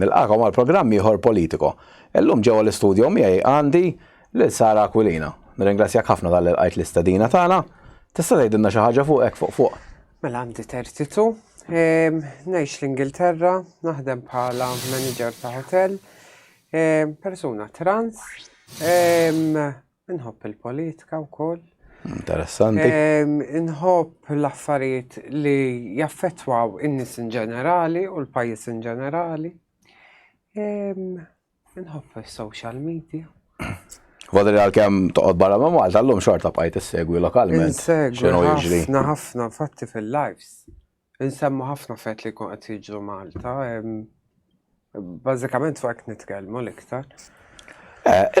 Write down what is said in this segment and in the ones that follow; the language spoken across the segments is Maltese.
Nilqakom għal programm ieħor Politico. Illum ġewwa l-istudjo miegħi għandi lil Sara Aquilina. Nirringrazzjak ħafna tal qajt l-istadina tagħna. Tista' tgħidilna xi ħaġa fuq hekk fuq fuq? Mela għandi tertitu. Ehm, ngħix l-Ingilterra, naħdem bħala manager ta' hotel, ehm, persuna trans, ehm, Inħobb il-politika wkoll. Interessanti. Inħobb l-affarijiet li jaffettwaw in-nies in ġenerali u l-pajjiż in ġenerali. Inħobb is-social media. Għadri li għal-kem toqgħod barra ma' Malta, l-lum xorta bqajt segwi lokalment. Segwi ħafna ħafna fatti fil-lives. Insemmu ħafna affarijiet li jkun qed jiġru Malta. Bażikament fuq hekk nitkellmu l-iktar.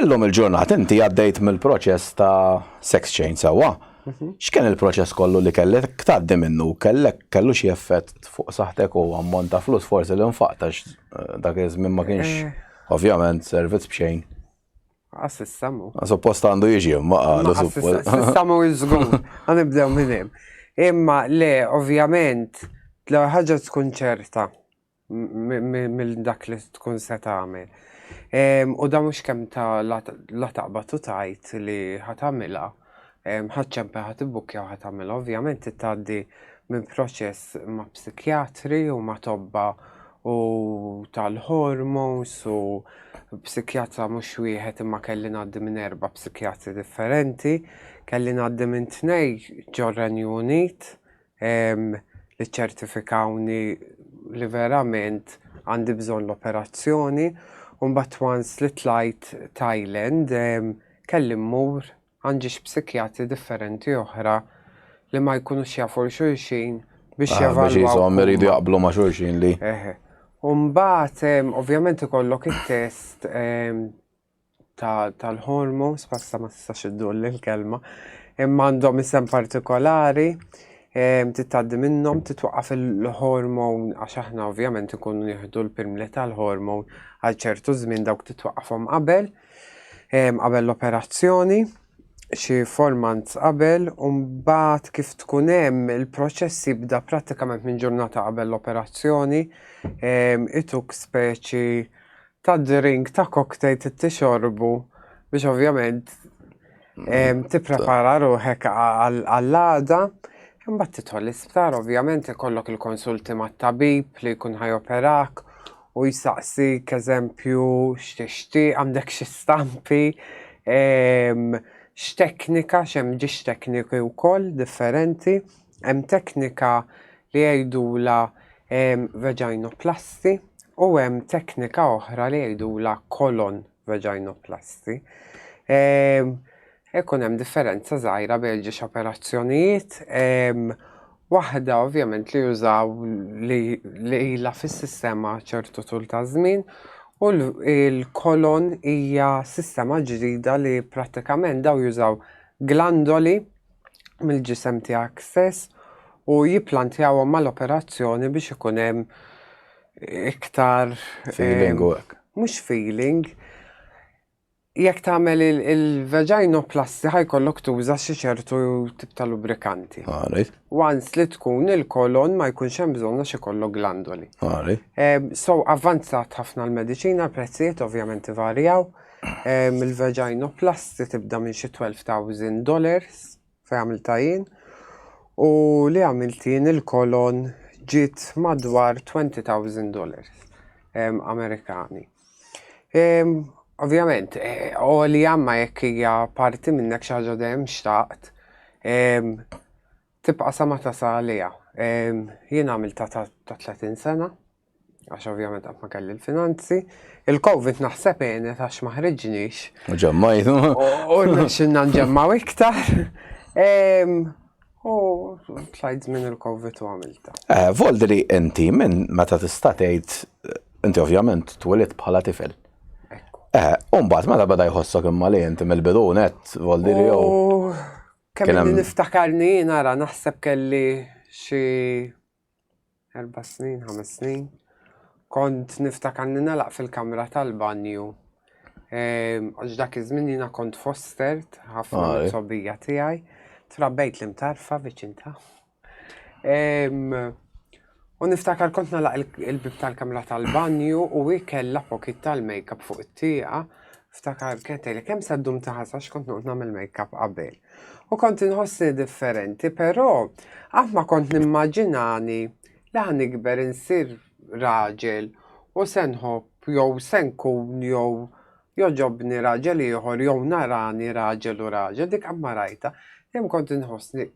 Illum il-ġurnata inti għaddejt mill-proċess ta' sex change sewwa. Mhm. X'kien il-proċess kollu li kellek tgħaddi minnu? Kellek kellu xi effett fuq saħtek u ammont ta' flus forsi li nfaqtax eh, dak iż-żmien ma kienx eh. ovvjament servizz b'xejn. Għassissa mu. Suppost għandu jiġi, ma għandu suppost. Għassissa mu jizgur, għanibdew minnem. Imma le, ovvjament, l ħagġa tkun ċerta mill dak li tkun se tagħmel. U da mhux kemm ta' la taqbad u tajt li ħatamilha. ħadd ċempe ħadd ibbukkja u ħadd għamilha. Ovvjament tgħaddi minn proċess ma' psikjatri u ma' tobba u tal-hormones u psikjatra mhux wieħed imma kelli ngħaddi minn erba' psikjatri differenti, kelli ngħaddi minn tnej ġor-Renju Unit li ċċertifikawni li verament għandi bżonn l-operazzjoni u mbagħad once li tlajt Thailand kelli mmur għand xi psikjatri differenti oħra li ma jkunux jafu xulxin biex ah, javalwaw. Biex jisom iridu jaqblu ma xulxin li. Umbat, ovvjament ikollok il-test tal-ħormu, spassa ma tistax iddur l-kelma, imma għandhom isem partikolari, titaddi minnhom titwaqqaf il-hormon għax aħna ovvjament ikunu nieħdu l-pilmli tal-hormon għal ċertu żmien dawk titwaqqafhom qabel qabel l-operazzjoni xi formant qabel u mbagħad kif tkun hemm il-proċess jibda prattikament minn ġurnata qabel l-operazzjoni ituk speċi ta' drink ta' cocktail tixorbu biex ovvjament mm. tipprepara ruħek għall-għada. Imbagħad titħol l-isptar, ovvjament ikollok il-konsulti mat-tabib li jkun ħajoperak u jisaqsi eżempju x'tixti, għandek xi stampi, x'teknika, x'hemm ġiex tekniki wkoll differenti. Hemm teknika li jgħidulha vaginoplasti u hemm teknika oħra li jgħidulha colon vaginoplasti. Ehm, ikun hemm differenza żgħira bejn ġiex operazzjonijiet, ehm, waħda ovvjament li jużaw li ilha fis-sistema ċertu tul ta' żmien u l-kolon hija sistema ġdida li prattikament daw jużaw glandoli mill-ġisem tiegħek stess u jipplantjawhom mal-operazzjoni biex ikun hemm iktar. Feeling u hekk. Mhux feeling. Jekk tagħmel il-vaginoplasti ħajkollok tuża xi ċertu tip ta' lubrikanti. Għarif. Once li tkun il-kolon ma jkunx hemm bżonn għax ikollok glandoli. Għarif. So avvanzat ħafna l-mediċina, prezzijiet ovvjament ivarjaw. il-vaginoplasti tibda minn xi 12,000 dollars fej għamilta jien u li għamilt jien il-kolon ġiet madwar 20,000 dollars Amerikani. Ovvjament, u eh, li għamma jekk hija parti minnek xi ħaġa dejjem xtaqt tibqa' sa ma tasal għaliha. Jien għamilta ta' 30 sena għax ovvjament qatt ma kelli l-finanzi. Il-Covid naħseb għenet għax ma ħriġniex. Ġemmajt. U xinna nġemmaw iktar. U tlajt minn il-Covid u għamilta. Eh, Voldri, inti minn meta tista' tgħid inti ovvjament twilid bħala tifel. Eh, umbat meta bada jħossok imma li inti mill-bidu net, Voldri jew. Kemm niftakarni nara naħseb kelli xi Erba' snin, ħames snin. Kont niftakar li nalaq fil-kamra tal-banju. Ehm, Għax dak iż-żmien jiena kont fostert ħafna Ah, eh. sobija tiegħi. Trabbejt li mtarfa viċin ta'. Ehm, U niftakar kont nalaq il- il-bib tal-kamra tal-banju u hi kellha pokit tal-makeup fuq it-tieqa Ftakar kett li kemm se ddum taħas għax kont noqgħod nagħmel make-up qabel. U kont inħossni differenti, però qatt ma kont nimmaġinani li ħan ikber insir raġel u se nħobb jew se nkun jew joġobni raġel ieħor jew narani raġel u raġel dik qatt ma rajta. Dejjem kont inħossni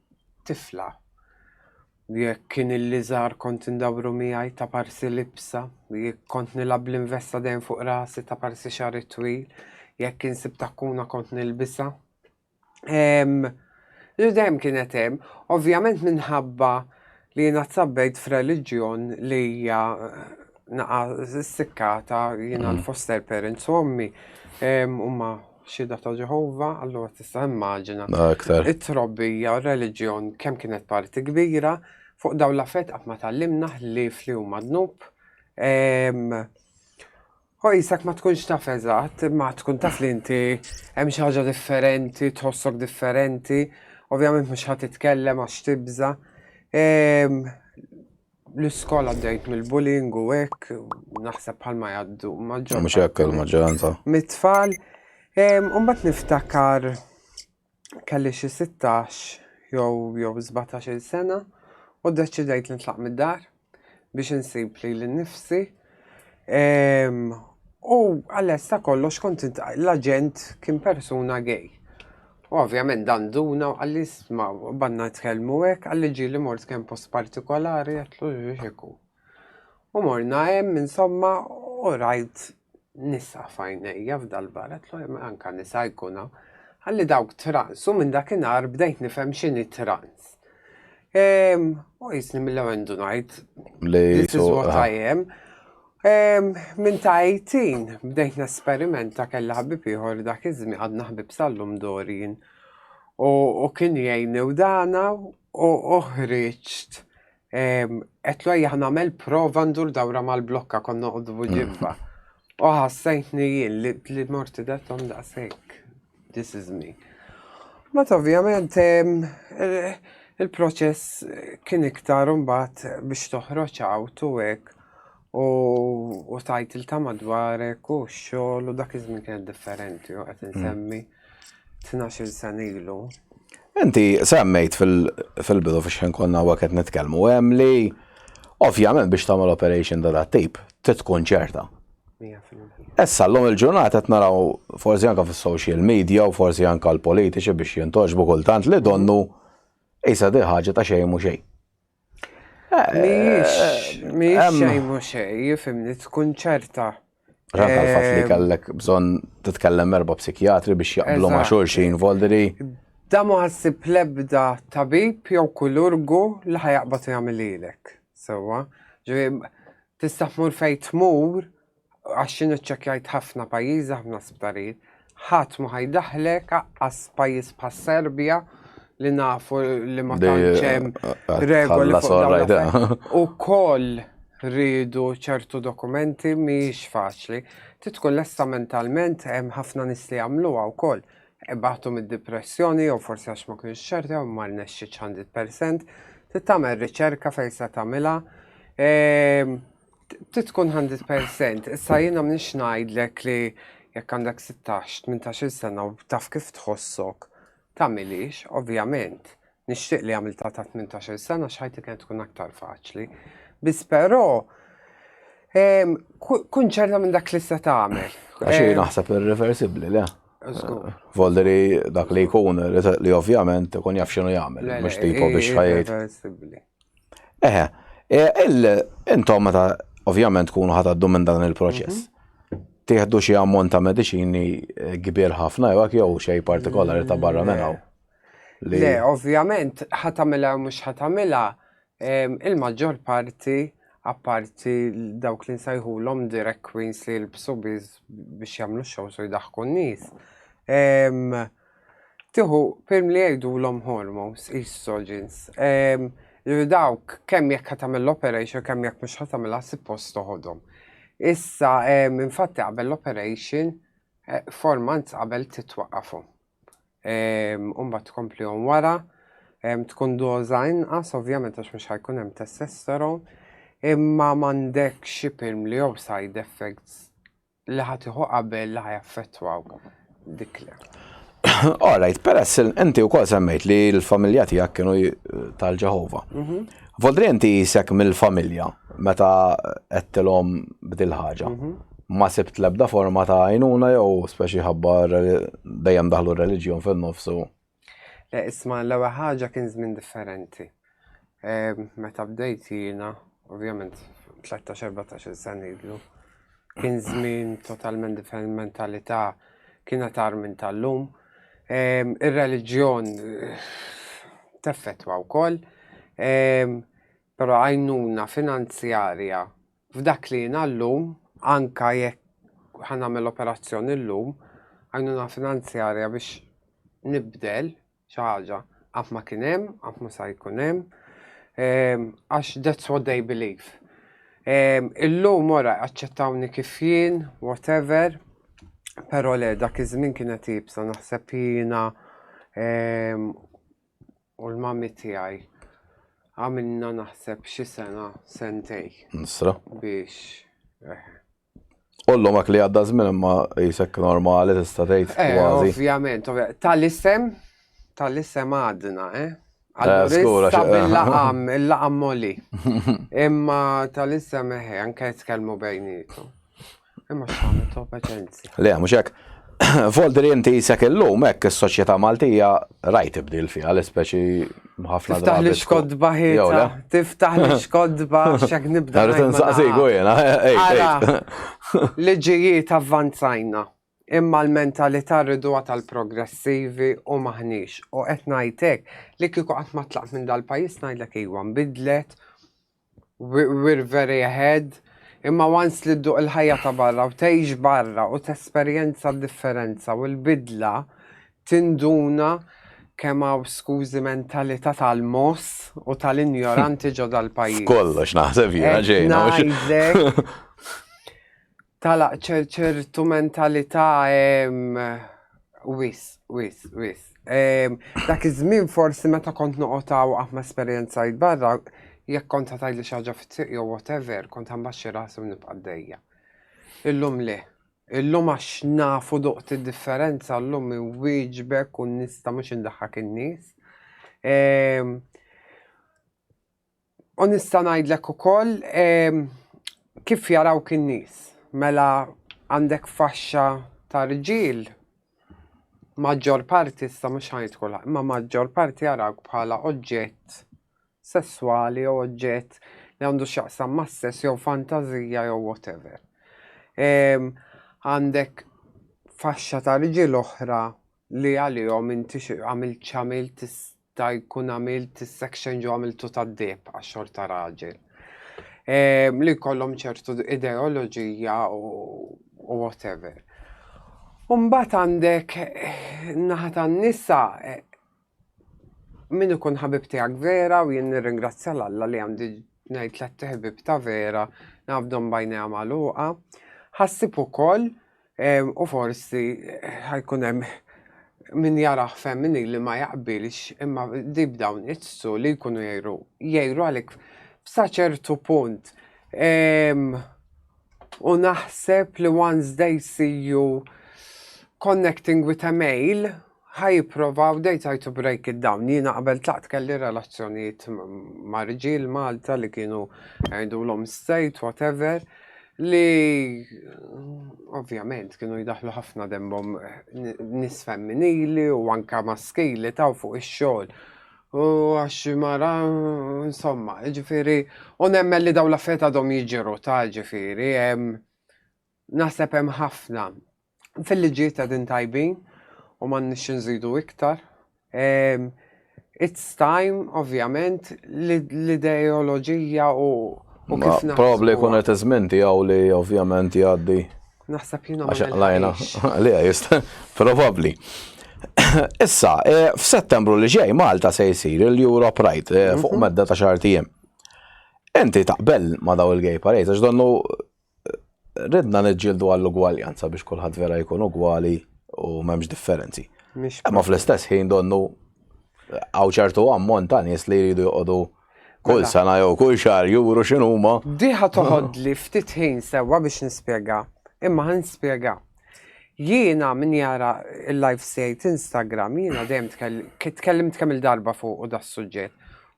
tifla. Jekk kien illi żgħar kont indawru miegħi ta' parsi libsa, jekk kont nilgħab bl-investa dejjem fuq rasi ta' parsi xagħri twil, jekk kien sib takkuna kont nilbisa. Ehm, li dejjem kienet hemm, ovvjament minħabba li jiena tsabbejt f'reliġjon li hija eh, naqa sikkata jiena mm. l-foster parents u ommi huma Xhieda ta' Ġeħova, allura tista' immaġina Aktar. it-trobbija u r-reliġjon kemm kienet parti kbira fuq dawn l-affett qatt ma tgħallimna ħlief li huma dnub. Ehm, U jisak ma tkunx taf eżatt, ma tkun taf li inti hemm xi ħaġa differenti, tħossok differenti, ovvjament mhux ħadd titkellem għax tibża. Ehm, l-iskola għaddejt mill-bullying u hekk naħseb bħalma jgħaddu maġġor. Mhux hekk il-maġġoranza. Mit-tfal, mbagħad niftakar kelli xi 16 jew jew 17 sena u ddeċidejt nitlaq mid-dar biex insib li l-nifsi Ehm, u għaless ta' kollox kont l-aġent kien persuna gay. U ovvjament dan duna u għalli sma banna tkellmu hekk għalli ġi li mort kemm post partikolari għatlu ġiġiku. U morna hemm insomma u rajt nisa fajnejja f'dal-bar għatlu anka nisa jkuna għalli dawk trans u minn dakinhar bdejt nifhem x'inhi trans. U jisni mill-ewwel ngħid. This is what I am. Minn ta' 18 bdejt nesperimenta kellha ħbib ieħor dak iż-żmien għadna ħbib sallum Dorin. U kien jgħinni u dana u oħriġt qed lejja nagħmel prova ndur dawra mal-blokka konna qudbu ġibba. U ħassejtni jien li morti datom daqshekk. This is me. Mat ovvjament il-proċess kien iktar mbagħad biex toħroġ għawt u hekk u tajt il ta' madwarek u xogħol u dak iż-żmien kien differenti u qed insemmi 12 mm. sena ilu. Inti semmejt fil-bidu fiex ħin konna huwa qed nitkellmu hemm li ovvjament biex tagħmel operation da tip tkun ċerta Issa llum il-ġurnata qed naraw forsi anke fis-social media u forsi anke l-politiċi biex jintoġbu kultant li donnu isa di ħaġa ta' xejn mhux xejn. Mhijiex eh, xejn mhux xejn, jifimni tkun ċerta. Ġanka l-fatt li eh, kellek bżonn titkellem erba' psikjatri biex jaqblu ma' xulxin voldiri. Da ma ħassib lebda tabib jew kulurgu li ħajaqbad jagħmel lilek. Sewwa, Tista' tmur fejn tmur, għax jien iċċekkjajt ħafna pajjiżi, ħafna sptarijiet, ħadd mhu ħa jdaħħlek, aqqas pajjiż bħas-Serbja li nafu li ma tantx hemm regoli fuq dawn. Ukoll rridu ċertu dokumenti mhijiex faċli. Trid tkun lesta mentalment, hemm ħafna nies li jagħmluha wkoll. Ibatu mid-dipressjoni jew forsi għax ma kienx ċert jew ma rnexxitx 100%, trid tagħmel riċerka fejn se tagħmilha. Ehm, trid tkun 100%, issa jiena m'iniex ngħidlek li jekk għandek 16, 18 sena u taf kif tħossok, tagħmilix, ovvjament. Nixtieq li għamilta ta' 18 sena x'ħajti kien tkun aktar faċli. Biss però ehm, kun ċerta minn dak li se tagħmel. Għaxi ehm, naħseb irreversibbli, le? Volderi dak li jkun li ovvjament ikun jaf xinu jagħmel, mhux tipo biex ħajjed. Eħe, intom meta ovvjament tkunu ħataddu minn dan il-proċess. Mhm. Tieħdu xi ammont ta' mediċini eh, kbir ħafna jew jew xej partikolari ta' barra minn hawn. Le, ovvjament ħatamilha mhux ħatamilha Il-maġġor parti, apparti dawk li nsajħulhom direct queens li jilbsu biss biex jagħmlu shows u jdaħħku n-nies, tieħu film li jgħidulhom hormones, estrogens. Ġifieri dawk kemm jekk qed tagħmel l-operation kemm jekk mhux qed tagħmilha suppost toħodhom. Issa infatti qabel l-operation, four months qabel trid twaqqafhom. u mbagħad tkomplihom wara. Tkun doża inqas ovvjament għax mhux ħajkun hemm testosteron, imma m'għandek xi pilm li jew side effects li ħatiħu qabel li ħajaffettwaw dik le. All right, peress inti wkoll semmejt li l-familja tiegħek kienu tal-Ġeħova. Mhm. Vodri inti jisek mill-familja meta qedtilhom bdil ħaġa. Mhm. ma sibt l-ebda forma ta' għajnuna jew speċi ħabba dejjem daħlu r-reliġjon fin-nofs u. Le isma' l-ewwel ħaġa kien żmien differenti. Ehm, meta bdejt jiena, ovvjament 13-14 sena ilu, kien żmien totalment differenti mentalità kien tar minn tal-lum. Ehm, ir-reliġjon teffettwa wkoll, ehm, però għajnuna finanzjarja F'dak li jiena llum, anke jekk ħa nagħmel operazzjoni llum, għajnuna finanzjarja biex nibdel xi ħaġa, qatt ma kien hemm, qatt ma sa jkun hemm, għax that's what they believe. Illum ora jaċċettawni kif jien, whatever, però le dak iż-żmien kienet iebsa naħseb jiena u l-mami tiegħi għamilna naħseb xi sena sentej. Nisra. Biex. Eh. Ollu mak li għadda żmien imma jisek normali tista' tgħid eh, kważi. Ovvjament, tal-isem tal-isem għadna, eh? Allura, eh, il-laqam, il-laqam moli. Imma tal-isem eħe, anke jitkellmu bejnietu. Imma x'għamel top aġenzi. Le, mhux hekk. Voldri inti jisek illum hekk is-soċjetà Maltija rajt ibdil fiha l-ispeċi ħafna drabi. Tiftaħ li xkodba ħieta, tiftaħ li xkodba xek nibda. Rrid insaqsiku jiena, Liġijiet avvanzajna, imma l-mentalità rridu tal-progressivi u maħniex. U qed ngħidlek li kieku qatt ma tlaq minn dal-pajjiż ngħidlek iwa nbidlet We're very ahead. Imma once li dduq il-ħajja ta' barra u tgħix barra u tesperjenza d-differenza u l-bidla tinduna kemm hawn skużi mentalità tal-mogħoż u tal-injoranti ġo dal-pajjiż. F'kollox naħseb jiena ġejna. Qed ngħidlek. Tala ċertu mentalità wis, wis, wis. Dak iż-żmien forsi meta kont noqotaw aħma ah, esperjenza barra, jekk kont ta' tajli xaġa fit-triq jew whatever, kont għambaxxi rasi u nibqa' dejja. Illum le. Illum għax nafu duqt id-differenza, illum wieġbek u nista mhux indaħħak in-nies. U nista' ngħidlek ukoll kif jarawk in-nies. Mela għandek faxxa ta' rġiel, maġġor parti issa mhux ħa ngħid kulħadd, imma maġġor parti jarawk bħala oġġett sesswali jew oġġett li għandu x'jaqsam mas-sess jew fantażija jew whatever. Għandek faxxa ta' rġiel oħra li għalihom inti xi għamilt x'għamilt tista' jkun għamilt is-section ġo għamiltu tad-deheb għax-xorta raġel. Ehm, li jkollhom ċertu ideoloġija u whatever. Umbat għandek naħa tan-nisa eh, Min ikun ħabib tiegħek vera u jien nirringrazzja l Alla li għandi ngħid tlet ħbieb ta' vera nafdhom bajnejha magħluqa. Ħassib ukoll u forsi ħajkun hemm min jaraħ femmini li ma jaqbilx imma dib dawn iċsu li jkunu jgħiru jgħiru għalik f'sa ċertu punt. U naħseb li once they see you connecting with a male Ħa jipprovaw they try to break it down. Jiena qabel tlaqt kelli relazzjonijiet ma' rġiel Malta li kienu jgħidulhom state, whatever, li ovvjament kienu jidaħlu ħafna dembhom nis femminili u anka maskili taw fuq ix-xogħol. U għax mara, insomma, ġifiri, u nemmen li daw l-affarijiet għadhom jiġru ta' ġifiri, Naħseb hemm ħafna fil-liġijiet qegħdin tajbin u m'għandniex xi nżidu iktar. Ehm, it's time, ovvjament, l-ideoloġija u u Ma kif naħsbu. probabli jkun qed iż-żmien tiegħu li ovvjament jgħaddi. Naħseb jiena ma Għax lajna, nilħaqx. li għajist, probabli. Issa, eh, f'Settembru li ġej Malta se jsir il-Euro Pride eh, fuq medda ta' xar tiegħem. Inti taqbel ma' daw il-gay parades, għax donnu ridna niġġieldu għall-ugwaljanza biex kulħadd vera jkun ugwali u m'hemmx differenzi. Ma fl-istess ħin donnu għaw ċertu ammont ta' nies li jridu joqogħdu kull mela. sena jew kull xahar juru x'inhuma. Diħa toħodli ftit ħin sewwa biex nispjega, imma ħan nispjega. Jiena min jara il-live sejt Instagram, jiena dejjem tkellimt kemm il-darba fuq u da suġġett.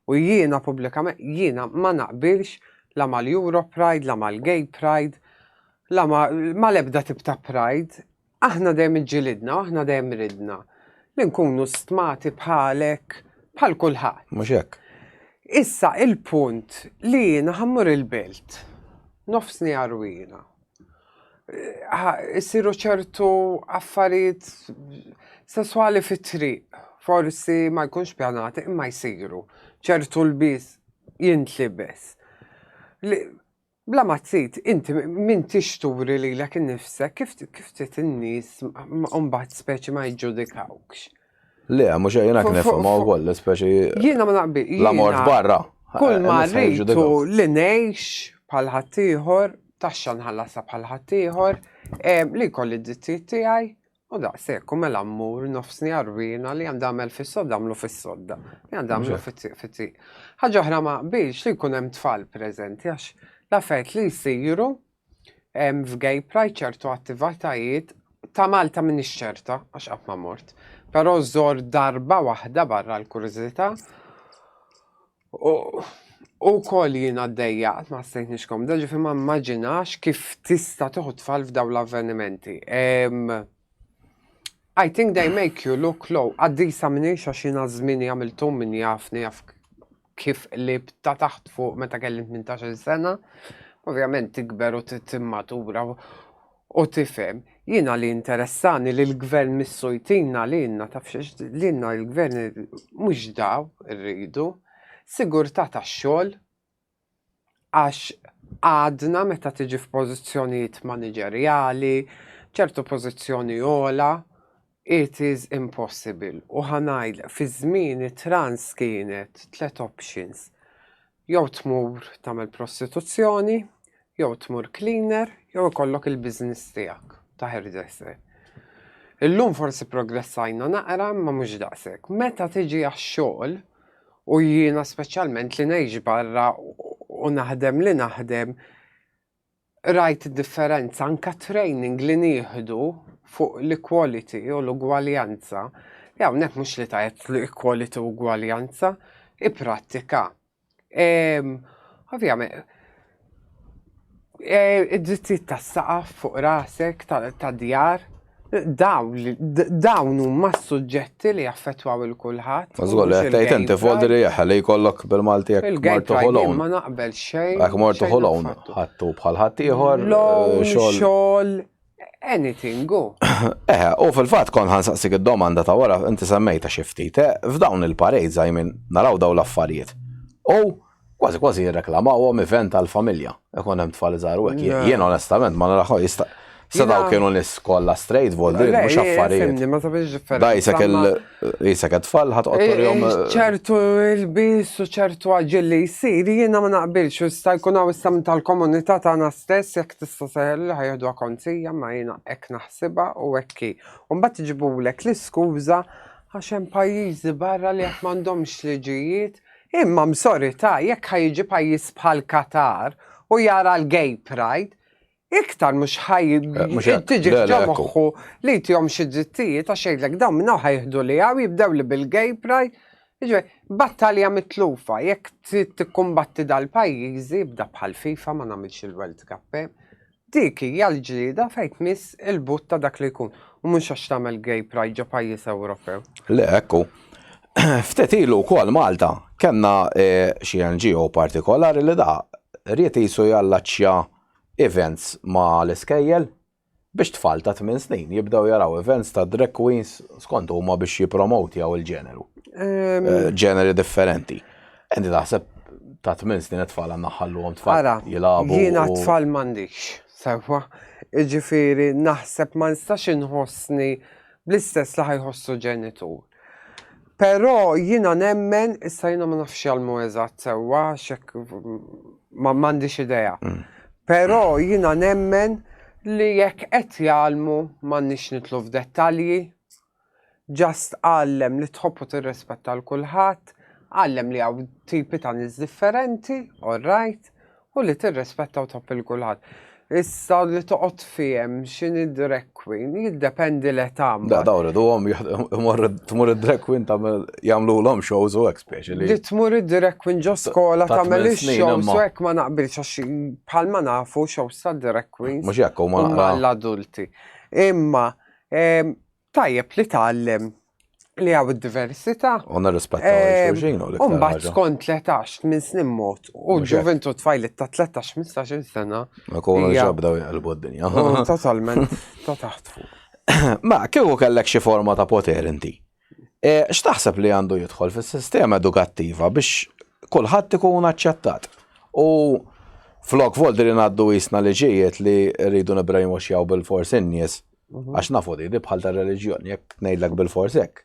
U jiena pubblikament jiena ma naqbilx la mal-Euro Pride, la mal-Gay Pride, la mal-ebda tip ta' Pride, aħna dejjem iġġilidna, aħna dejjem ridna li nkunu stmati bħalek, bħal kulħadd. Mhux hekk. Issa il-punt li jiena ħammur il-belt, nofsni għarwina, jsiru ċertu affarijiet sesswali fit-triq. Forsi ma jkunx pjanati imma jsiru ċertu lbies jintlibes. Bla ma trid, inti min tixturi lilek innifsek kif kif trid in-nies mbagħad speċi ma jiġġudikawkx. Le, mhux jiena kien nifhem wkoll, speċi. Jiena ma naqbi. La mort barra. Kull eh, ma rritu li ngħix bħal ħaddieħor, taxxa nħallasha bħal ħaddieħor, eh, li kolli d-dittijiet tiegħi, u daqshekk u mela mmur nofsni arwina li għandha għamel fis-sodda għamlu fis-sodda, li għandha għamlu fit-tiq. Ħaġa oħra ma qbilx li jkun hemm tfal preżenti għax l-affarijiet li jsiru F'gay pride ċertu attivatajiet ta' Malta minix ċerta għax qatt ma mort. Però żor darba waħda barra l-kurżità. U kol jien għaddejja qatt ma ħsejtni x'komda ġifi ma mmaġinax kif tista' tuħu tfal f'daw l-avvenimenti. I think they make you look low. Qaddisa minix għax jiena żmieni għamilthom min jafni jaf kif qlib ta' taħt fuq meta kelli 18 sena, ovvjament tikber u timmatura u tifhem. Jiena li interessani li l-gvern missu jtina li jenna taf li jenna l-gvern mhux daw irridu, sigurtà tax-xogħol, għax għadna meta tiġi f'pożizzjonijiet maniġerjali, ċertu pożizzjoni ogħla, it is impossible. U ħa ngħidlek, fiż-żmieni trans kienet tliet options. Jew tmur tagħmel prostituzzjoni, jew tmur cleaner, jew ikollok il-business tiegħek ta' hairdresser. Illum forsi progressajna naqra ma mhux daqshekk. Meta tiġi għax-xogħol, u jiena speċjalment li ngħix barra u naħdem li naħdem rajt differenza anka training li nieħdu fuq l-equality u l-ugwaljanza. Li hawnhekk mhux li tajt l-equality u ugwaljanza, i prattika. Ovvjament, Eh, id-drittijiet tas-saqaf fuq rasek tad-djar, dawn huma s-suġġetti li jaffettwaw il kulħadd. Mażgol, qed tgħid inti foldi li jaħħel li jkollok bil-Malti jekk mort toħolon. Ma naqbel xejn. Jekk mort toħolon, ħattu bħal ħadd ieħor. Xogħol, Anything, go. Eh, u fil-fat kon ħansaqsik id-domanda ta' wara, inti semmejta xiftit, eh, f'dawn il-parejt zajmin naraw daw l-affarijiet. U kważi kważi jirreklamaw għom event għal-familja. Ekon hemm tfal iżgħar u Jien onestament ma naraħu jista' Sadaw kienu nis kolla straight voldi, mux affarijiet. Dajsa kell Isa ka tfal ħat jom. Eh, ċertu il-bis u ċertu għagġil li jisir, jiena ma naqbilx, u sta jkun għaw istam tal-komunità tagħna stess jekk tista' seħel li ħajħdu konzija ma jiena hekk naħsibha u hekki. U mbagħad tiġibulek l-iskuża għax hemm pajjiżi barra li jekk m'għandhomx liġijiet, imma msorita jekk ħajġi pajjiż bħal Katar u jara l-gay pride, iktar mhux ħaj eh, tiġi ġo moħħu li jtihom xi drittijiet għax jgħidlek dawn minn ħaj jieħdu li hawn jibdew li bil-gay pride. Iġbej, battalja mitlufa, jekk trid tikkumbatti dal-pajjiżi bda bħal FIFA ma nagħmilx il-World Cup. Eh. Dik hija l-ġlieda fejn miss il-but ta' dak li jkun u mhux għax tagħmel gay pride ġo pajjiż Ewropew. Le, ekku. Ftet ilu wkoll Malta kellna eh, xi NGO partikolari li da riet jisu jallaċċja events ma' l-iskejjel biex tfal ta' tmien snin jibdew jaraw events ta' drag queens skont huma biex jippromotjaw il-ġeneru. Ġeneri differenti. Inti taħseb ta' tmien snin it-tfal għandna ħalluhom tfal Ara, jilagħbu. jiena u- tfal m'għandix, sewwa. Jiġifieri naħseb ma nistax inħossni bl-istess li ħajħossu ġenitur. Però jiena nemmen, issa jiena ma nafx jalmu eżatt sewwa, xek ma m'għandix idea. Mm. Però jiena nemmen li jekk qed jalmu m'għandniex nitlu f'dettalji. Ġast għallem li tħobbu tirrispetta l kulħadd, għallem li hawn tipi ta' nies differenti, all right, U li tirrispetta u top il-kulħadd. Issa li toqgħod fiem x'in id-drag queen jiddependi l età. Da daw riduhom tmur id-drag queen tagħmel jagħmlulhom shows u hekk speċi li. Li tmur id-drag queen ġo skola tagħmel ix-shows u hekk ma naqbilx għax bħalma nafu shows ta' drag queens. Mhux hekk huma l-adulti. Imma Tajjeb li tgħallem li għaw id-diversità. U nirrispettaw eh, xulxin u l-iktar. Umbat skont 13 minn snin mot u ġuventu tfajlit ta' 13-15 sena. Ma kunu ġabdaw jgħalbu d-dinja. Totalment, ta' taħt fuq. Ma kieku kellek xi forma ta' poter inti. E, x'taħseb li għandu jidħol fis-sistema edukattiva biex kulħadd ikun aċċettat. U flok voldi li ngħaddu jisna liġijiet li rridu nibrajmu xjaw bil-forsi n-nies Mhm. Għax nafu di, di bħal ta' reliġjon, jekk ngħidlek bil-fors hekk.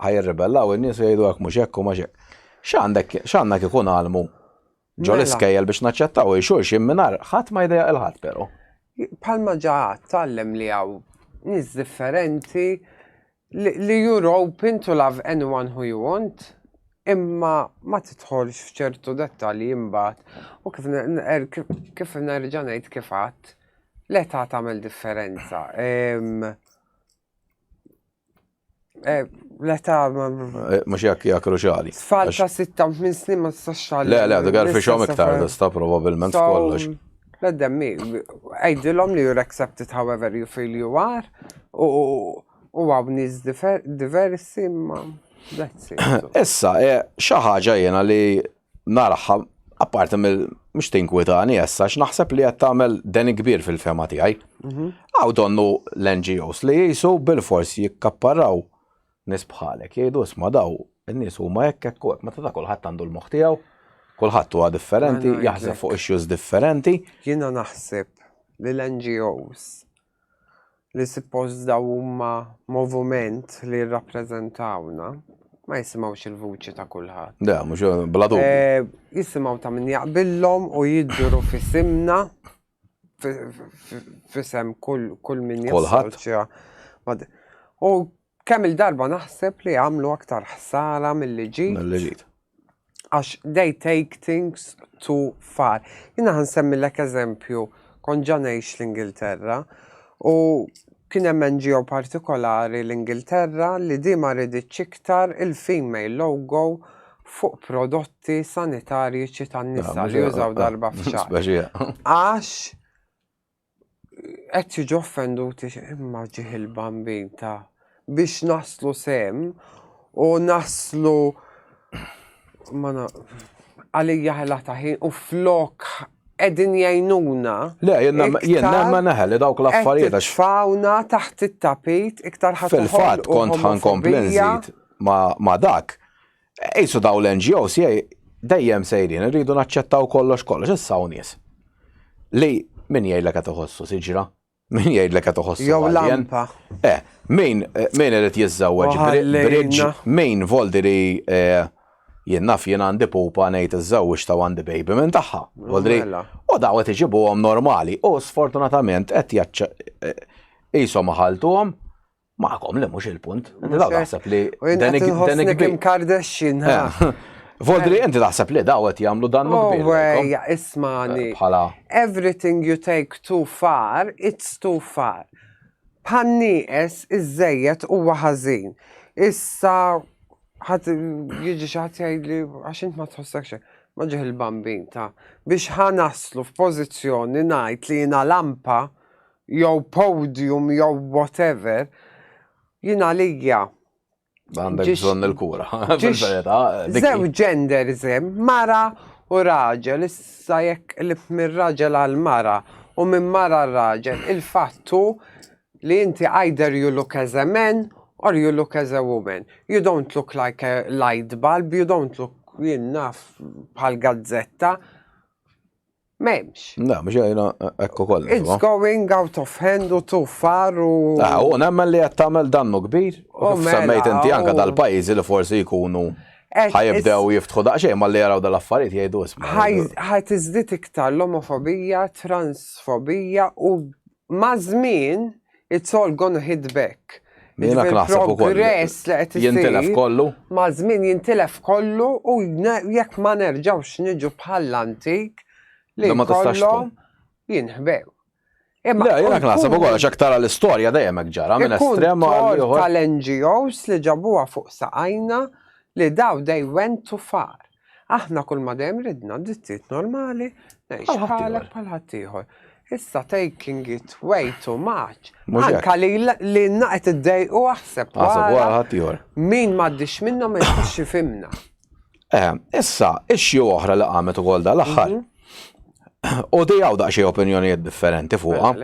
Ħajirribellaw in-nies jgħidu hekk mhux hekk u mhux hekk. X'għandek x'għandek ikun għalmu ġol mela. iskejjel biex naċċettaw xulx imminar ħadd ma jdejja il-ħadd però. Palma ġaħat tallem li għaw nis differenti Li you're open to love anyone who you want, imma ma tidħolx f'ċertu dettalji imbagħad u kif er, kif nerġa' ngħid kif għadd, l-età tagħmel differenza. Ehm, Eh, l-età ma. Eh, mux jak jak ruġali. Tfal ta' 6 minn snin ma t-saxxali. Le, le, għadu għarfi xom iktar, sta probabilment kollox. Let them be. Għajdilhom li you're accepted however you feel you are u għaw nis diversi ma that's it. Issa, e, xi ħaġa jiena li narħa apparti mill mhux tinkwitani issa x'naħseb li qed tagħmel den kbir fil-fema tiegħi. Mhm. Għaw donnu l-NGOs li jisu bil-fors jikkapparraw Nies bħalek jgħidu isma' daw in-nies huma hekk hekk u hekk, meta ta' kulħadd għandu l-moħħ tiegħu, kulħadd huwa differenti, jaħseb fuq issues differenti. Jiena naħseb li l-NGOs li suppost daw huma movument li jirrappreżentawna ma jisimgħux il-vuċi ta' kulħadd. Da, mhux bla dubju. Eh, jisimgħu ta' min jaqbillhom u jidru fisimna fisem kull min jassoċja. U kemm il-darba naħseb li għamlu aktar ħsara mill-li ġid. Għax they take things too far. Jina għan semmi l-ek eżempju, kon ġanajx l-Ingilterra u kien hemm NGO partikolari l-Ingilterra li di ma riditx iktar il-female logo fuq prodotti sanitarjiċi tan-nisa li jużaw darba f'xahar. Għax qed jiġu offenduti imma ġieħ il-bambin ta' biex naslu sem u naslu għalija ħela taħin u flok edin jajnuna. Le, jenna ma naħel li dawk l-affarijiet. Fawna taħt it-tapit iktar ħafna. Fil-fat kont ħan komplenzit ma dak. Qisu daw l-NGOs dejjem sejrin, irridu naċċettaw kollox kollox, issa u nies. Li min jgħidlek qed iħossu siġra, min jgħidlek qed iħossu. Jew lampa. Eh, min eh, min irid jiżżewweġ bridġ, min voldi li eh, jien naf jien għandi pupa ngħid iżżewweġ ta' għandi baby minn tagħha. Voldri. Mela. U daw qed iġibuhom normali u sfortunatament qed jaċċa eh, qishom ħaltuhom Maħkom li mhux il-punt. Inti daw taħseb li. Dan il-kim Kardashian. Eh. Voldri, inti taħseb li daw qed jagħmlu dan oh, mukbir. Għeja, ismani. Eh, bħala. Everything you take too far, it's too far. Bħanniqes iż-żejjed huwa ħażin. Issa ħadd jiġi xi ħadd jgħidli għax int ma tħossek xejn maġiħ il-bambin ta' biex ħanaslu f'pożizzjoni ngħid li jiena lampa jew podium jew whatever, jien għalija. Għandek bżonn il-kura. Zew gender zem, mara u raġel, issa jekk lif minn raġel għal mara u minn mara raġel, il-fattu li inti either you look as a man or you look as a woman. You don't look like a light bulb, you don't look jinnaf bħal gazzetta. Memx. Na, mux jajna ekku koll. It's going out of hand u tu faru. Na, ah, u nemmen li jattamel dannu kbir. U oh, mela, semmejt inti anka oh. dal-pajzi li forsi jkunu eh, ħajibdew jiftħu daqxej ma li jaraw dal-affarijiet jgħidu isma. Ħaj tizdit iktar l-omofobija, transfobija u Maż-żmien, it's all gonna hit back. Jiena qed naħseb ukoll. Progress li qed isir. Jintilef kollu. Maż-żmien jintilef kollu u jekk ma nerġgħux niġu bħall-antik li ma tistax jinħbew. Imma jiena qed naħseb ukoll għax aktar l-istorja dejjem hekk ġara minn estrem għal tal-NGOs li ġabuha fuq saqajna li daw they went too far. Aħna kull ma dejjem ridna drittijiet normali, ngħix bħalek bħal ħaddieħor. Issa taking it way too much. Anka li li naqet id-dej u aħseb. Aħseb wara ħaddieħor. Min m'għaddix minna ma jkunx xifimna. Eh, issa, ixxi oħra li qamet ukoll dal-aħħar. Mhm. U di għaw daqxie opinjonijiet differenti fuqa.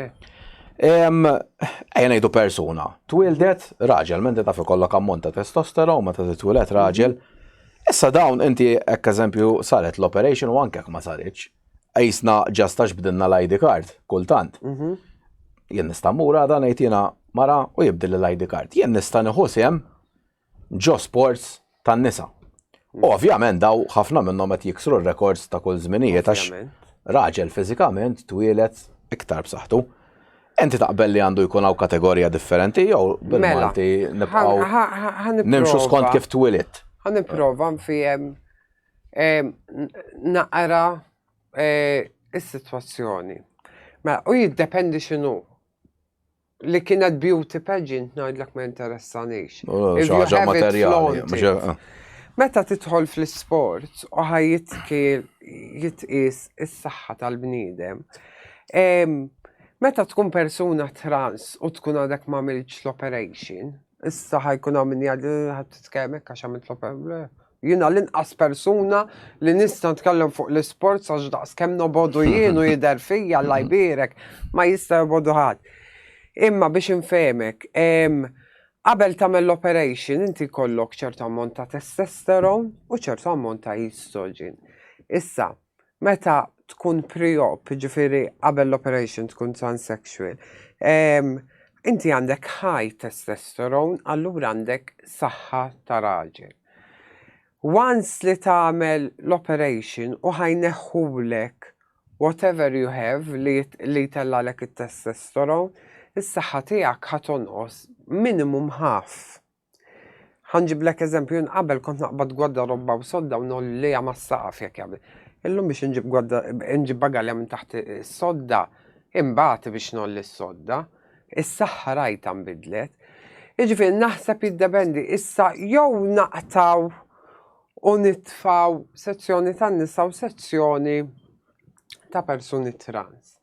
Ejja ngħidu persuna, twildet raġel, minn ta' fi kollok ammont ta' testosteron, ma ta' twildet raġel, Issa dawn inti hekk eżempju saret l-operation u anke jekk ma saritx, qisna ġast għax bdilna l-ID card kultant. Mhm. Jien nista' mmur għada ngħid jiena mara u jibdilli l-ID card. Jien nista' nieħu sehem ġo sports tan-nisa. U ovvjament daw ħafna minnhom qed jiksru r-rekords ta' kull żminijiet għax Ovvjament. raġel fiżikament twieled iktar b'saħħtu. Inti taqbel li għandu jkun hawn kategorija differenti jew bil-Malti nibqgħu nimxu skont kif twilit? Ħa nipprova nfihem naqra eh, is-sitwazzjoni. Mela, u jiddependi x'inhu li kienet beauty pageant ngħidlek ma interessanix. Xaġa materjali. Eh. Meta titħol fl-sport u ħajjitki jitqis is-saħħa tal-bniedem, Meta tkun persuna trans u tkun għadek ma għamilx l-operation, issa ħajkun għam minni għaddi ħad t-tkellmek għax għamilt l-operation. Jina l-inqas persuna li nista tkellem fuq l-sport għax daqs kem nobodu jienu jider fija la jbirek ma jista jobodu ħad. Imma biex infemek, qabel tamel l-operation inti kollok ċertu ammont ta' testosterone u ċertu ammont ta' estrogen. Issa, meta tkun pre-op, ġifiri qabel l-operation tkun transsexual, ehm, inti għandek high testosterone, allura għandek saħħa ta' raġel. Once li tagħmel l-operation u ħajneħħulek whatever you have li, li tellalek it-testosterone, is-saħħa tiegħek ħatonqos minimum half. Ħanġiblek eżempju, jien qabel kont naqbad gwadda robba u sodda u nolli lejha mas-saqaf jekk jagħmel. Illum biex inġib gwadda inġib bagalja minn taħt is-sodda, imbagħad biex nolli s-sodda, is-saħħa rajta nbidlet. Jiġifieri naħseb jiddependi issa jew naqtaw u nitfaw sezzjoni tan-nisa u sezzjoni ta' persuni trans.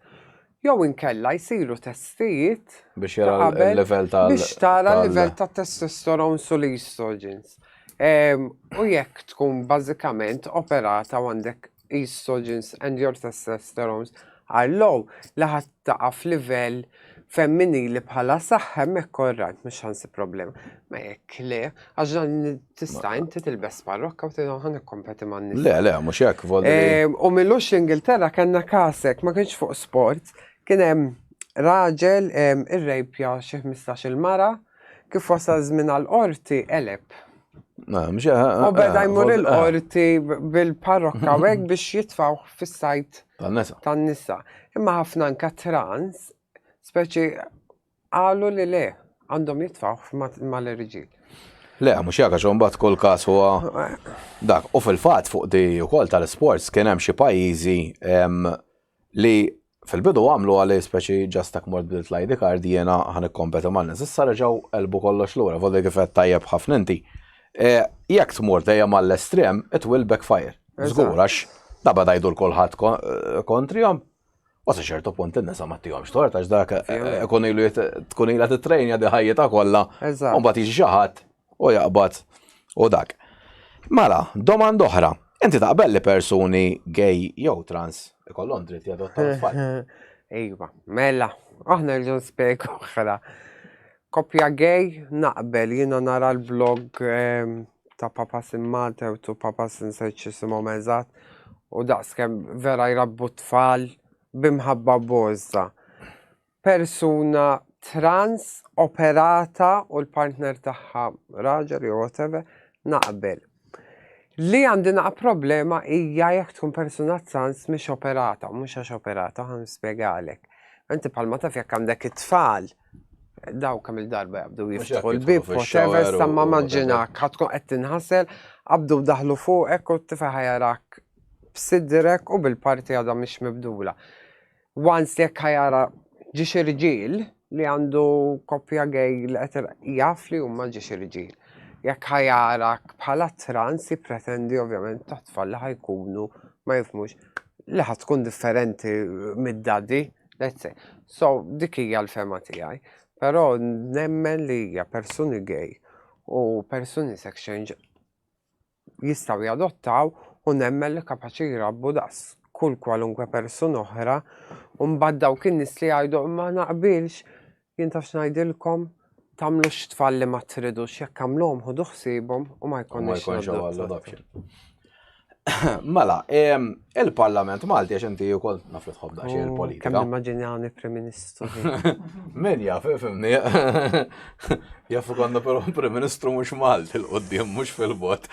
Jew inkella jsiru testijiet biex jara l-level ta' biex tara l-level ta' testosterone u l-estrogens. Ehm, u jekk tkun bażikament operata għandek estrogens and your testosterone are low, li ħadd taqa' f'livell femminili bħala saħħ hemmhekk orrajt mhux ħansib problema. Ma jekk le, għax dan tista' inti tilbes parrokka u tilgħu ħan ikkompeti man nisa. Le, le, mhux hekk volli. Ehm, u millux l-Ingilterra kellna kasek, ma kienx fuq sport, kien hemm raġel ehm, irrejpja xi 15 il-mara Kif wasal żmien għall-qorti, eleb. U beda jmur il-qorti bil-parrokka u hekk biex jitfaw fis-sajt tan-nisa. Imma ħafna anka trans, speċi qalu li le, għandhom jitfaw mal-irġiel. Le, mux jaka xombat kol kas huwa dak. U fil-fat fuq di u kol tal-sports kien hemm xi pajjiżi li Fil-bidu għamlu għalih speċi ġast hekk mort bdilt l-ID card jiena ħa nikkompeti man-nies. Issa reġgħu qelbu kollox lura, voli kif qed tajjeb ħafna inti. Jekk tmur dejjem għall-estrem, it will backfire. Żgur għax da beda jdur kulħadd kontrihom. U sa ċertu punt in-nisa ma tihomx tort għax dak ikun ilu tkun ilha titrejnja di ħajjitha kollha. U mbagħad jiġi xi ħadd u jaqbad u dak. Mela, domanda oħra. Inti taqbel li persuni gay jew trans ikollhom dritt jadottaw tfal? Iva, mela, aħna rridu nspjeg oħra. Kopja gay naqbel jiena nara l-blog ehm, ta' Papa Simmate u tu Papa Sinseċ jisimhom eżatt u daqskemm vera jrabbu tfal bimħabba boża. persuna trans operata u l-partner tagħha raġel jew whatever naqbel. Li għandi naqa problema hija jekk tkun persuna trans mhix operata, mhux għax operata, ħan spjegalek. Inti bħalma taf jekk għandek it-tfal, daw kemm il-darba jabdu jiftħu l-bib, whatever, sta ma maġġina, ħatkun qed tinħasel, abdu daħlu fuqek u t-tifa ħajarak b'sidrek u bil-parti għadha mhix mibdula. Once jekk ħa jara ġiex irġiel li għandu koppja gay li qed ir- jaf li huma ġiex irġiel. Jekk ħa jarak bħala trans jippretendi ovvjament tat-tfal li ħa jkunu ma jifhmux li ħa tkun differenti mid-daddy, let's say. So dik hija l-fehma tiegħi. Però nemmen li hija persuni gay u persuni sex change jistgħu jadottaw u nemmen li kapaċi jrabbu daqs kull kwalunkwe persuna oħra u mbagħad dawk in-nies li jgħidu imma ma naqbilx jien taf x'ngħidilkom tagħmlux tfal li ma tridux jekk għamluhom ħudu ħsiebhom u ma jkunx adoption. Mela, Il-Parlament Malti, għax inti u koll naf li tħobb daqxie oh, il-politika. Kemm immaġinjani Prim Ministru. Min jaf, fimni. Jaf konna però Prim Ministru mhux Malti l-qoddim, mhux fil-bot.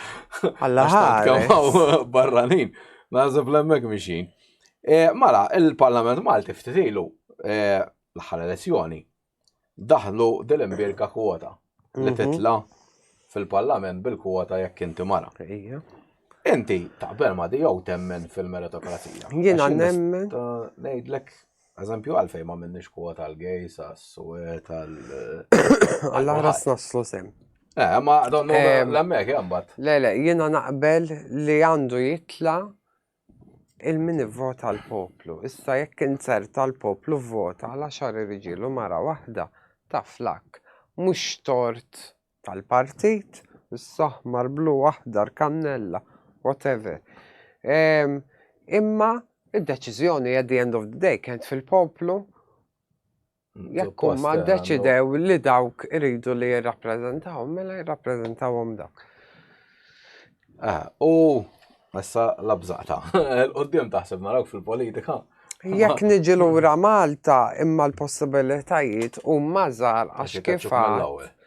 Alla ħares. barranin. Nażeb l-emmek mixin. E, mala, il-Parlament Malti ftitilu e, l-aħħar elezzjoni daħlu dil-imbierka kwota li mhm. titla fil-parlament bil-kwota jekk inti mara. Inti taqbel ma di jew temmen fil-meritokrazija. Jiena nemmen. Ngħidlek eżempju għalfejn ma minnix kwota għal gejs għas-suwet għal. Alla ras naslu sem. Eh, ma donnu l-emmek jambat. Le, le, jiena naqbel li għandu jitla 'il min ivvota l-poplu. Issa jekk inzerta l-poplu vvota għal għaxar irġiel u mara waħda, taf l-akk. Mhux tort tal-partit, issa aħmar, blu, aħdar, kannella, whatever. Ehm, imma id-deċiżjoni at the end of the day kienet fil-poplu Jekk huma ddeċidew li dawk iridu li jirrappreżentawhom, mela jirrappreżentawhom dawk. Ah, u issa labżata. L-qoddim taħseb narawk fil-politika. Jekk niġi lura Malta imma l-possibilitajiet huma żgħar għax kif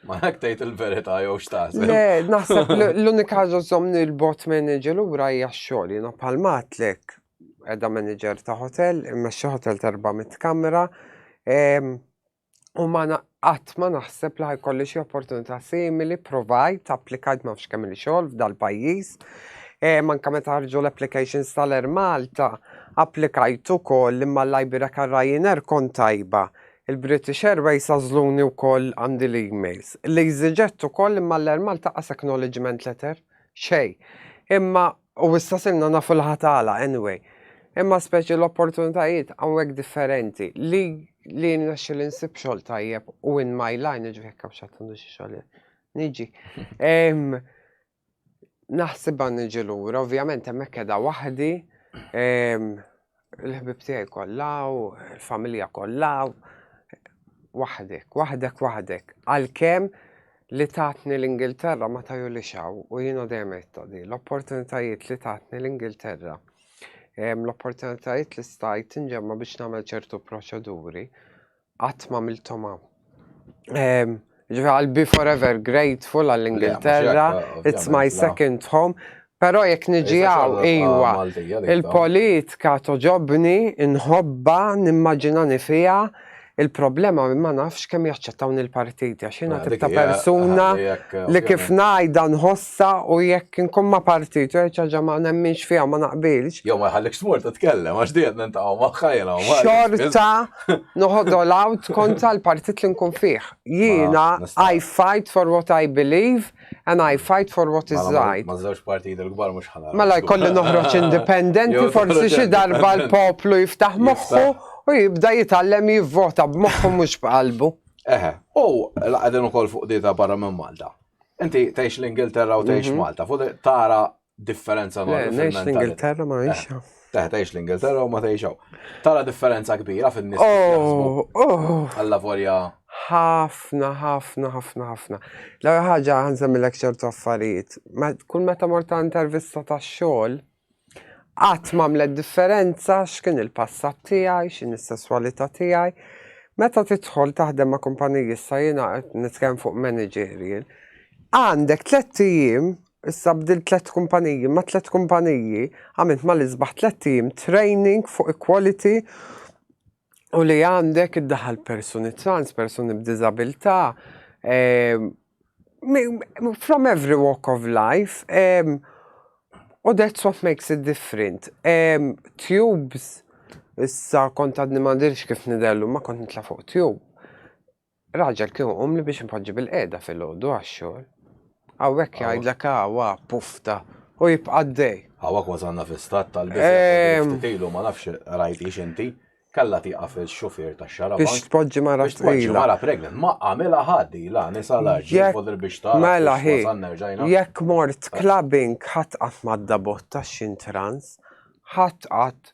Ma hekk tgħid il-verità jew x'taħseb. Le, naħseb l-unika ġożomni l-bot minn niġi lura hija x-xogħol jiena bħal matlek Qiegħda manager ta' hotel, immexxi hotel ta' 400 kamra. U ma qatt ma naħseb li ħajkolli xi opportunità simili, provajt, applikajt ma nafx kemm li xogħol f'dal-pajjiż. E, manka meta ħarġu l-applications tal-Air Malta, applikajt ukoll imma l-Ibera Ryanair kont tajba. Il-British Airways għażluni wkoll għandi l-emails. L-EasyJet ukoll imma l-Air Malta qas acknowledgement letter, xej. Imma U issa sirna nafu l-ħatala, anyway. Imma speċi l-opportunitajiet hawnhekk differenti li li nrexxi li nsib xogħol tajjeb u in my line ġifieri kemm xattandu xi xogħol. Niġi. Naħsibha niġi lura, ovvjament hemmhekk qiegħda waħdi Il-ħbib tiegħi kollha u l-familja kollha waħdek, waħdek, waħdek. Għalkemm li tatni l-Ingilterra ma taju li xaw u jina dejjem di l-opportunitajiet li tatni l-Ingilterra l-opportunitajiet li stajt inġemma biex nagħmel ċertu proċeduri Qatt ma għamilthom hawn. Ehm, Ġifi I'll be forever grateful għall-Ingilterra, it's my second home. Pero jek niġi għaw, iwa, il-politika toġobni, nħobba, nimmaġina nifija, il-problema ma nafx kemm jaċċettawn il-partiti, għax jina tibta persuna li kif najda nħoss Sa u jekk inkun ma' partit jew xi ħaġa ma nemminx fiha u ma naqbilx. Jew ma jħallikx tmur titkellem għax dejjem niltaqgħu magħha jiena u Marek. Xorta noħodha l-għawd kontra l-partit li nkun fih. Jiena I fight for what I believe and I fight for what is right. Ma' żewġ partijiet il-kbar mhux ħa nagħlaq. Mela jkolli noħroġ indipendenti forsi xi darba l-poplu jiftaħ moħħu u jibda jitgħallem jivvota b'moħħu mhux b'qalbu. Eħe, u qegħdin ukoll fuq dieta barra minn Malta. Inti tgħix l-Ingilterra u tgħix mhm. Malta, fuq tara differenza ma' tgħix l-Ingilterra ma eh, tgħix. Teħ tgħix l-Ingilterra u ma tgħixaw. Tara differenza kbira fin-nies. Oh, oh. Alla vorja. Ħafna, ħafna, ħafna, ħafna. L-ewwel ħaġa ħanżemmilek ċertu affarijiet. Kull meta morta intervista tax-xogħol, Qatt m'għamlet differenza x'kien il-passat tiegħi, x'inhi s-sesswalità tiegħi. Meta tidħol taħdem ma' kumpaniji issa jiena qed nitkellem fuq managerial, għandek tlett ijiem, issa bdilt tlett kumpaniji, ma' tlett kumpaniji għamilt mal-isbaħ tlett ijiem training fuq equality u li għandek id-daħal persuni trans, persuni b'diżabilità, ehm, from every walk of life, ehm, u that's what makes it different. Ehm, tubes, issa kont għadni ma dirx kif nidellu, ma kont nitla fuq tube. Raġel kieku qumli biex inpoġġi bil-qiegħda filgħodu għax-xogħol. Hawnhekk jgħidlek hawa, pufta, u jibqa' għaddej. Hawa kważi għandna fi stat tal-biża' li ftit ilu ma nafx rajthiex inti, kellha tieqaf ix-xufier tax-xarabank. Biex tpoġġi mara pregnant. Biex tpoġġi mara pregnant. Ma għamilha ħadd ilha, nisa l-għaġġ, jifodil biex tara. Mela hi, jekk mort clubbing ħadd qatt m'għadda bott għax xi ntrans, ħadd qatt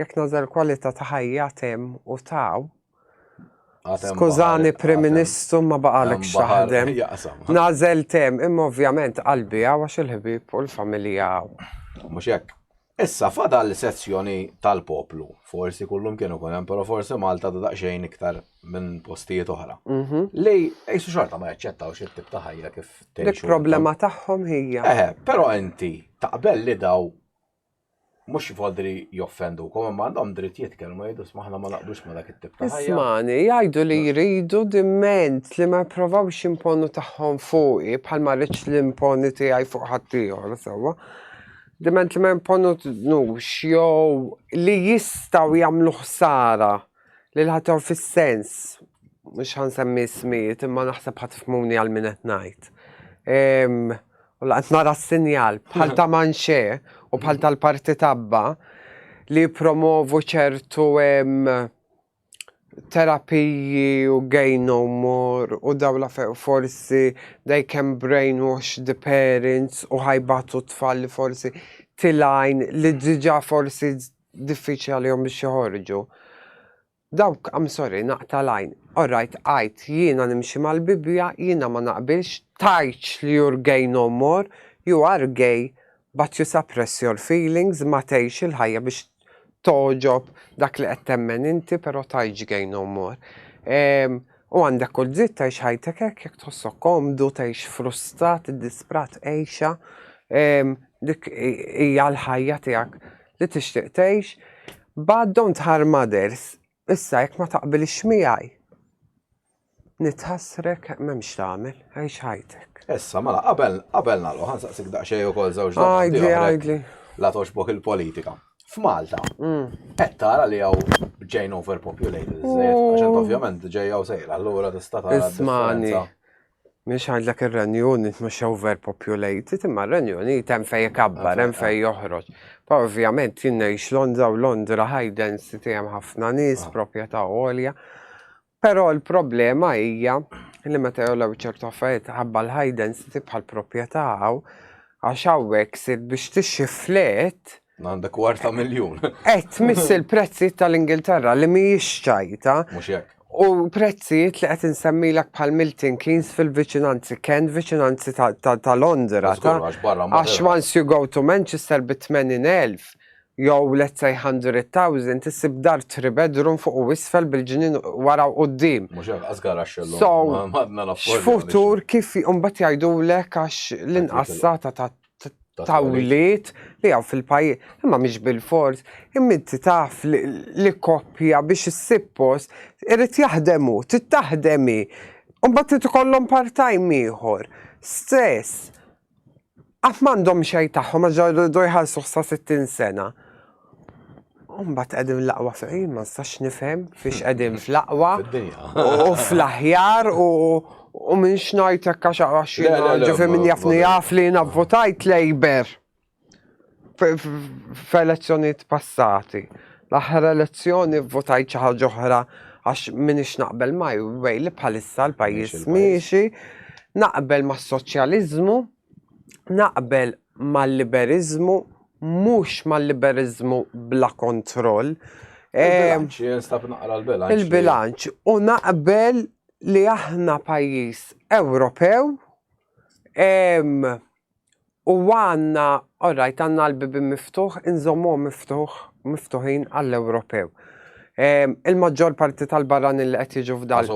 Jekk nażel kwalità ta' ħajja temm u taw. Skużani Prim Ministru ma baqalek x'taħdem. Nażel temm imma ovvjament qalbi hawn għax il-ħbieb u l-familja hawn. Mhux hekk. Issa fadal sezzjoni tal-poplu. Forsi kullum kienu ikun hemm, però forsi Malta da daqsxejn iktar minn postijiet oħra. Mhm. Li qisu xorta ma jaċċettawx it-tip ta' ħajja kif tgħixu. Il-problema tagħhom hija. Eħe, però inti taqbel li daw mhux vodri joffendukom, imma għandhom dritt jitkellmu jgħidu sma aħna ma naqblux ma dak it-tip ta' ħajja. Ismani, jgħidu li jridu diment li ma jipprovawx imponu tagħhom fuqi bħal ma rridx li imponi tiegħi fuq ħadd ieħor sewwa. Diment li ma jimponux jew li jistgħu jagħmlu ħsara li l-ħadd fis-sens mhux ħansemmi smijiet imma naħseb ħadd tifmuni għal min qed ngħid. Ehm, U laqt nara s-sinjal bħal ta' Manxé u bħal tal-Parti Tabba li jippromovu ċertu terapiji u gay no more u dawla forsi they can brainwash the parents u ħajbatu tfal li forsi tilajn li diġa forsi diffiċli għalihom biex joħorġu. Dawk I'm sorry naqta' l-għajn. Alright għidt jiena nimxi mal-Bibbja jiena ma naqbilx tgħidx li you're gay no more, you are gay but you suppress your feelings ma tgħix il-ħajja biex togħġob dak li qed temmen inti però tgħidx gay no more. U għandek kull dritt tgħix ħajtek hekk jekk tħossok komdu tgħix frustrat iddisprat għixha dik hija l-ħajja tiegħek. li tixtieq tgħix, but don't harm others. Issa jekk ma taqbilx miegħi, nitħassrek m'hemmx tagħmel, għix ħajtek. Issa, mela, qabel qabel nagħlqu ħansaqsik daqsxejn ukoll żewġ domandi oħra. La toġbok il-politika. F'Malta, mm. qed tara li hawn ġejn overpopulated, għax ovvjament ġejja u sejra, allura tista' tara. Ismani, Mhux għandlek ir-Renju Unit mhux overpopulated, imma r-Renju Unit hemm fejn ikabbar, hemm fejn joħroġ. Pa ovvjament jien ngħix Londra u Londra high density hemm ħafna nies, ah. proprjetà għolja. Però l-problema hija li meta jolew ċertu affarijiet ħabba l-high density bħal proprjetà hawn, għax hawnhekk sir biex tixxi flet Għandek kwarta miljun. Et miss il-prezzijiet tal-Ingilterra li mi ċajta. Mhux hekk. U prezzijiet li qed insemmilek bħal Milton Keynes fil-viċinanzi, Ken viċinanzi ta' Londra. Għax once you go to Manchester bi 80,000 jew let's say 100,000 tisib dar 3 bedroom fuq u isfel bil-ġinin wara u qoddim. Mux għazgar għaxxellu. So, futur kif umbat jajdu l għax l-inqassata ta' ta' wlied li għaw fil-pajjiż. Imma mhix bil-fors, imma inti taf li koppja biex issib post irid jaħdem hu, trid taħdem hi. Imbagħad trid ikollhom part-time ieħor. Stress. Qatt m'għandhom xejn tagħhom għax jridu jħallsuh sa 60 sena. Umbat għedim l-aqwa fejn, ma nistax nifhem fiex għedim fl-aqwa. U fl-aħjar u u minn xnajt ekka xaqwa xina, ġifi minn jafni jaf li jina votajt lejber f'elezzjoniet passati. L-aħħar elezzjoni votajt xi ħaġa oħra għax minix naqbel maj, bej li bħalissa l-pajjiż miexi, naqbel mas-soċjaliżmu, naqbel mal-liberiżmu mhux mal-liberiżmu bla kontroll. Il-bilanċ, eh, jinstab naqra l-bilanċ. Il-bilanċ, u naqbel li aħna pajjiż Ewropew u għanna, orrajt, għanna l-bibi miftuħ, inżommu miftuħ, miftuħin għall-Ewropew. Il-maġġor parti tal-barran il-qed jiġu f'dal.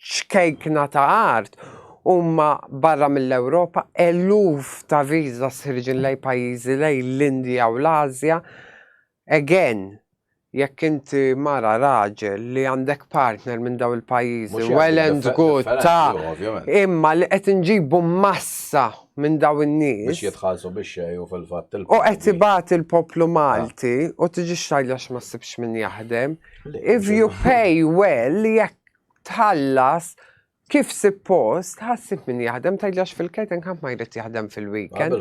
ċkejkna ta' art huma barra mill-Ewropa, eluf ta' visas ħirġin lejn pajjiżi lejn l-Indja u l-Ażja. Again, jekk inti mara, raġel, li għandek partner minn dawn il-pajjiżi, well and good, ta', imma li qed inġibu massa minn dawn in-nies. Biex jitħallsu bix-xejn u fil-fatt il-poplu. U qed ibati l-poplu Malti u tiġix tgħidli għax ma ssibx min jaħdem. If you pay well, jekk tħallas kif suppost, ħassib min jaħdem, tajlax fil-catering ħadd ma jrid jaħdem fil-weekend.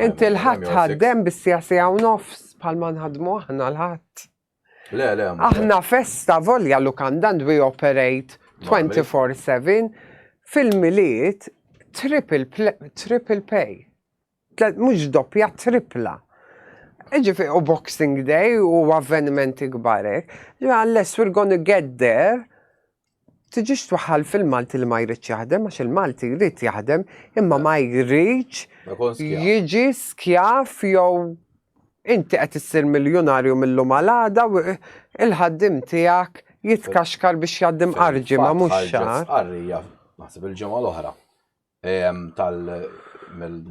Inti l-ħadd ħaddem bis-sija sija u nofs bħal ma nħadmu aħna l-ħadd. Le, le, Aħna festa volja lu kandan we operate 24-7 fil-miliet triple pay. Mhux doppja, trippla. Jiġifieri u Boxing Day u avvenimenti kbar hekk. Jiġifieri unless we're gonna get there, tiġix twaħħal fil-Malti li ma jridx jaħdem għax il-Malti jrid jaħdem imma ma jridx jiġi skjav jew inti qed issir miljunarju mil-lum għal għada u l-ħaddiem tiegħek jitkaxkar biex jgħaddi mqar ġimgħa mhux xahar. Ħarġet stqarrija, naħseb il-ġimgħa l-oħra,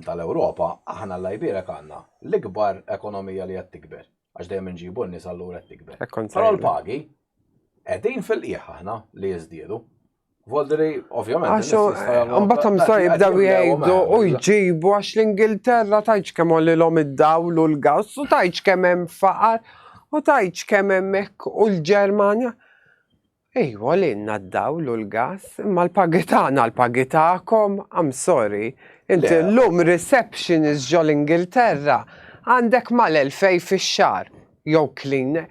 tal-Ewropa, aħna l-Iberica għandna l-ikbar ekonomija li qed tikber, għax dejjem inġibu n-nies allura qed tikber. Però l-pagi qegħdin fil-qiegħ aħna li jiżdiedu. Voldri, ovvjament. Għax imbagħad hemm sa jibdew jgħidu u jġibu għax l-Ingilterra tajċ kemm għolilhom id-dawl u l-gass u tajċ kemm hemm faqar u tajċ kemm hemm hekk u l-Ġermanja. Ejwa lilna d-dawl u l-gas, imma l-pagi tagħna l-pagi tagħkom, I'm sorry. Inti llum receptionist ġol-Ingilterra għandek mal-elfej fix-xahar, jew cleaner.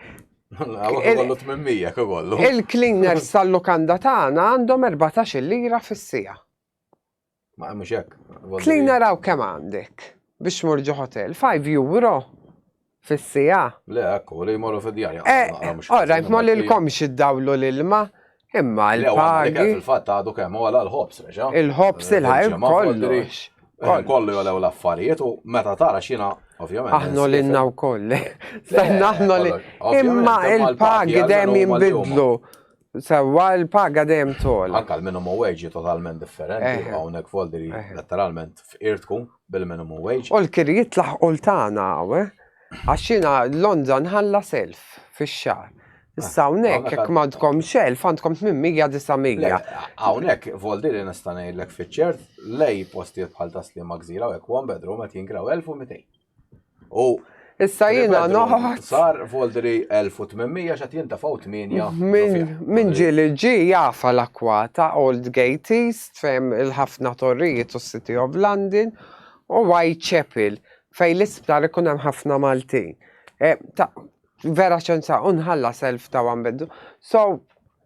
Hawnhekk ikollu tmien miegħek ikollu. Il-cleaners tal-lukanda tagħna għandhom erbatax-il lira fis-siegħa. Ma għamux hekk. Tlin naraw kemm għandek biex morġu hotel. 5 euro fis-sija. Le, ekku, li jmorru fid-djar. Ora, eh, ma li l-komx id-dawlu l-ilma. Imma l-pagi. Il-fat għadu kemm għala l-ħobs, reġa. Il-ħobs eh, il-ħajr kollu. Eh, kollu jolew l-affarijiet u meta tara xina, ovvjament. Aħnu l-inna u koll. Aħnu l Imma il-pagi dem jimbidlu. Sewa l-paga dejjem tol. Anka l-minimum wage totalment differenti, eh. hawnhekk folderi eh. letteralment f'irtku bil-minimum wage. U l-kiri jitlaħ ultana għawe, eh? għaxina Londra nħalla self fix-xar. Issa hawnhekk jekk m'għandkom xelf għandkom 800 900. Hawnhekk voldiri nista' ngħidlek fiċ-ċert lej postijiet bħal taslima gżira u hekk one bedroom qed jingraw 1200. U Issa jiena noħħat. Sar Voldri 1800 xat jintafaw 8. Min ġi li ġi jafa l-akwata Old Gate East fem il-ħafna torrijiet u City of London u Whitechapel fej l-isptar ikun hemm ħafna Maltin. E, vera ċenza unħalla self ta' għambeddu. So,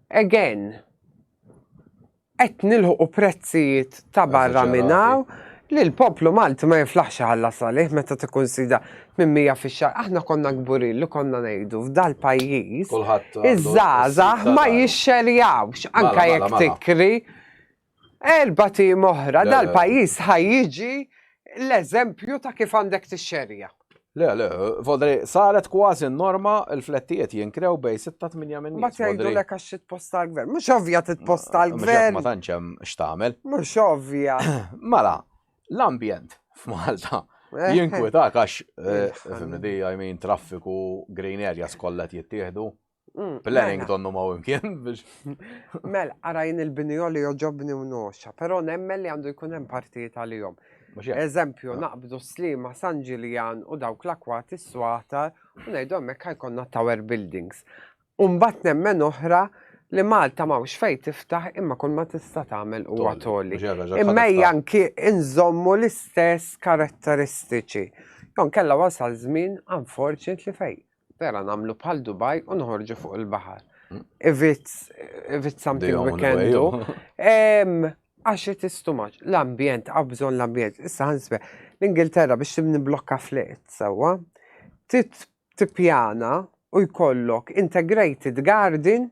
again, Qed nilħqu prezzijiet ta' barra minn hawn li l-poplu Malti ma jiflaħx iħallas għalih meta tikkunsida 800 fix-xahar. Aħna konna kburin li konna ngħidu f'dal-pajjiż iż-żgħażagħ ma jixxerjawx anke jekk tikri erbat ijiem oħra dal-pajjiż ħa jiġi l-eżempju ta' kif għandek tixxerja. Le, le, Vodri, saret kważi norma l-flettijiet jinkrew bej 6-8 minn Ma tgħidu lek għax titposta l-gvern. Mhux ovvja titposta l-gvern. Ma tantx hemm x'tagħmel. Mhux ovvja. Mela, l-ambjent f'Malta eh. jinkwetak għax eh, fimni di, I mean, traffiku, green areas kollha jittieħdu. Mm, Planning mela. donnu ma' imkien biex. Mel, għarajn il-binjo li joġobni u noxa, pero nemmel li għandu jkun hemm partijiet għalihom. Eżempju, ah. naqbdu slima San Ġiljan u dawk l-akwat is-swata u ngħidu hemmhekk ħajkonna tower buildings. Umbat nemmen oħra li Malta mawx fej tiftaħ imma kull ma tista' tagħmel huwa toli. Imma janki inżommu l-istess karatteristiċi. Jon kella wasal żmien unfortunately fej Pera namlu bħal Dubai u nħorġu fuq il-bahar. Hmm. If it's, if it's something we can do. Għax it is too much. L-ambjent, għabżon l-ambjent. Issa ħansbe, l-Ingilterra biex tibni blokka flet, sawa, tipjana u jkollok integrated garden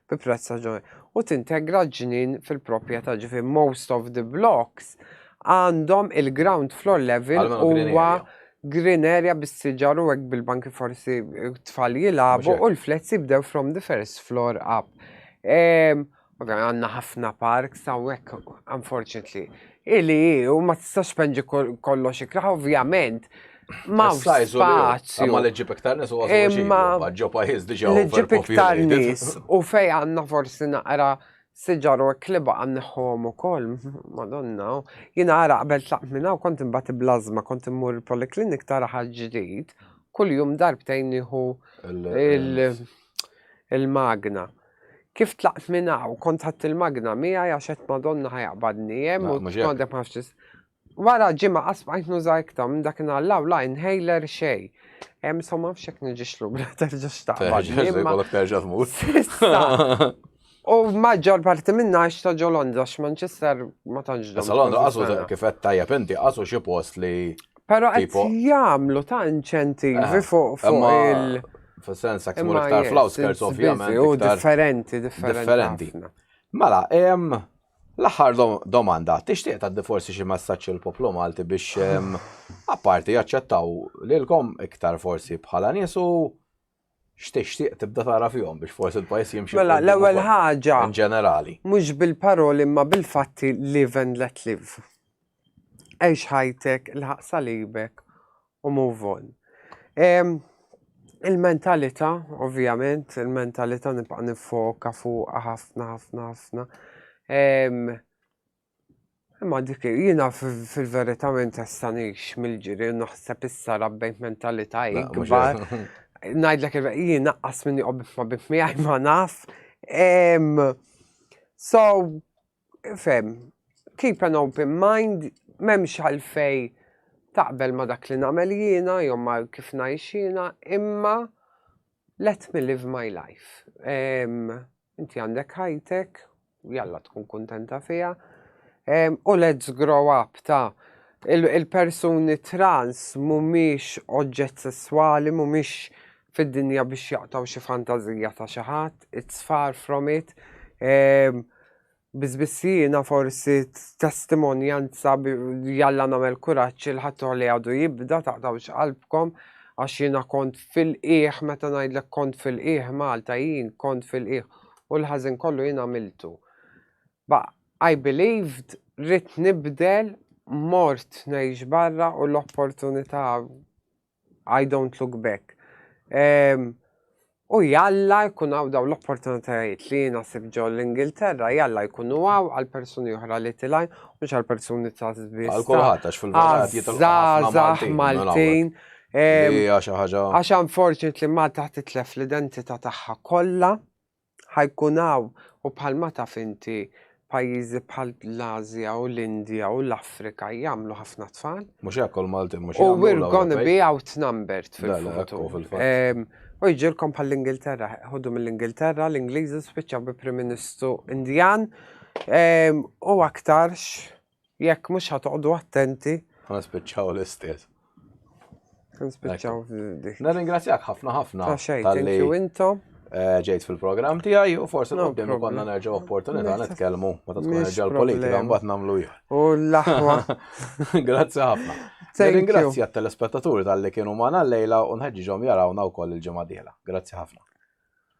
bi prezz raġonevoli u tintegra l-ġnien fil-proprjetà, ġifieri most of the blocks għandhom il-ground floor level Għalma green huwa area. green area bis-siġar u hekk bil-banki forsi tfal jilagħbu Mhux hekk. u l-flets jibdew from the first floor up. Ehm, Ovvjament għandna ħafna parks hawnhekk unfortunately. Ili hi u ma tistax penġi kol- kollox ikraħ, ovvjament Ma f'sajzu spazju. Ma l-ġib iktar nis u għazmu ma ġo pajiz diġa. L-ġib iktar nis u fej għanna forsi naqra siġaru u kliba għanniħom u kol, madonna, jina għara qabel tlaq minna u kont imbati blazma, kont immur il-poliklinik tara ħagġdijt, kull jum darbtejn iħu il-magna. Kif tlaqt minna u kont ħatt il-magna mija jaxet madonna ħajaqbadni jem u t-għandek maħxis. Wara ġimgħa qatt ma qajt nuża iktar, minn dakinhar 'l hawn la inhaler xejn. So ma nafx jekk niġix lura terġax taqbad. Jkollok terġa' tmut. U maġġor parti minnha għax ta' ġo Londra x'Manchester ma tantx dom. Sa Londra qasu kif qed tajjeb inti qasu xi post li. Però qed jagħmlu ta' inċentivi fuq il- Fis-sens hekk imur iktar fl-outskirts ovvjament. Differenti, differenti. Differenti. Mela, L-aħħar domanda, tixtieq tgħaddi forsi xi messaġġ il-poplu Malti biex apparti jaċċettaw lilkom iktar forsi bħala nies u x'tixtieq tibda tara fihom biex forsi l-pajjiż jimxi. Mela, l-ewwel ħaġa. In ġenerali. Mhux bil-paroli imma bil-fatti live and let live. għix ħajtek, ilħaq salibek u move on. Il-mentalita, ovvjament, il-mentalita nibqa nifoka fuq ħafna, ħafna, ħafna. Imma dik jina fil-verita minn testanix mill-ġiri naħseb issa rabbejt mentalita ikbar. Najdlek il-jina qas minni qobbif ma bif miħaj ma naf. So, fem, keep an open mind, memx għalfej taqbel ma dak li namel jiena, jom ma kif najx jiena, imma let me live my life. Inti għandek ħajtek, jalla tkun kontenta fija, u let's grow up ta' il-persuni trans mumiex oġġett sessuali, mumiex fid-dinja biex jaqtaw xi fantażija ta' xi ħadd, it's far from it. Ehm, Bizbissina forsi testimonjanza jalla namel kuraċ il-ħattu li għadu jibda taqtawx qalbkom għax jina kont fil-qiegħ meta ngħidlek kont fil-qiegħ Malta jien kont fil-qiegħ u l-ħażin kollu jien għamiltu. Ba I believed rrit nibdel mort ngħix barra u l-opportunità I don't look back. Ehm, U jalla jkun għaw daw l-opportunitajiet li jina sib ġo l-Ingilterra, jalla jkunu għaw għal-personi uħra li tilaj, mux għal-personi ta' zbis. Għal-kolħat, għax fil-verħat jitalqaħ Maltin. Għax unfortunately Malta titlef l-identita taħħa kolla. Ħa jkun hawn, u bħalma taf inti, pajjiżi bħal l-Ażja u l-Indja u l-Afrika jagħmlu ħafna tfal. Mhux hekk u l-Maltin mhux jagħmlu. U we're gonna be outnumbered fil-futur. U jġilkom bħall-Ingilterra, ħodu mill-Ingilterra, l-Ingliżi spiċċaw bi Prim Ministru Indjan u aktarx. Jekk mhux ħa toqgħodu attenti. Ħa nispiċċaw l-istess. Nispiċċaw dik. Nirringrazzjak ħafna ħafna. Ta' xejn, thank you intom. Eh, ġejt fil-programm tiegħi u forsi qudiem konna nerġgħu opportunità nitkellmu meta tkun nerġa' l-politika mbagħad nagħmlu jħor. U l-aħwa. Grazzi ħafna. Ringrazzja t-telespettaturi tal-li kienu magħna l-lejla u nħeġġiġhom jarawna wkoll il-ġimgħa Grazzi ħafna.